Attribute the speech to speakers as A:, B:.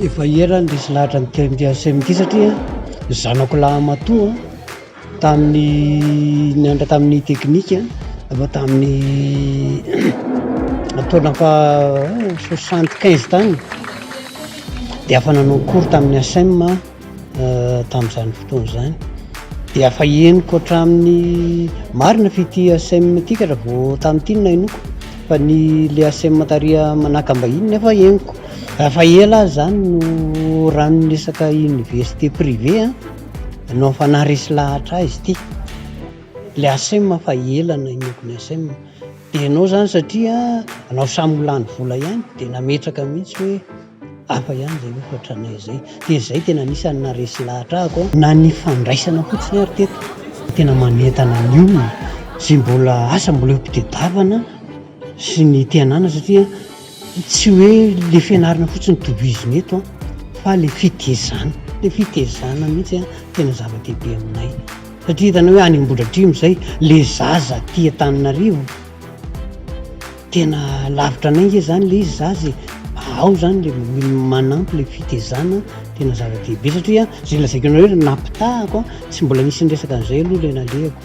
A: Efa ela aho nisy lahatra
B: nitety an'i Semki satria ny zanako lahy matoa Tamin'ny nianatra tamin'ny teknika na tamin'ny taona faha soixante quinze tany dia afa nanao cours tamin'ny ASEM aho tamin'izany fotoana izany dia afa henoko hatramin'ny marina fa ity ASEM ity ka raha vao tamin'ity no nahenoako fa ny le ASEM tariha manakam-bahiny nefa henoko, afa ela aho izany no ranon'ny resaka université privée an. Anao fanahy resy lahatra izy ity. Ilay ASEM fa ela no inoako ny ASEM. Dia ianao izany satria anao samy milany vola ihany dia nametraka mihitsy hoe hafa ihany izay hofatra anay izay. Dia izay tena anisan'ny naharesy lahatra ahy koa. Na ny fandraisana fotsiny ary teto tena manentana ny olona sy mbola asa mbola eo am-pitadiavana sy ny te hanana satria Tsy hoe le fianarana fotsiny no tohizina eto an, fa le fitezana, le fitezana mihitsy an, tena zava-dehibe aminay, satria hitanao hoe any Ambohidratrimo izay le zaza aty Antananarivo tena lavitra anay nge zany le izy zaza e, ao zany le manampy le fitezana, tena zava-dehibe satria an, ze lazaiko anareo, napitahako an, tsy mbola nisy niresaka an'izay aloha le nalehako.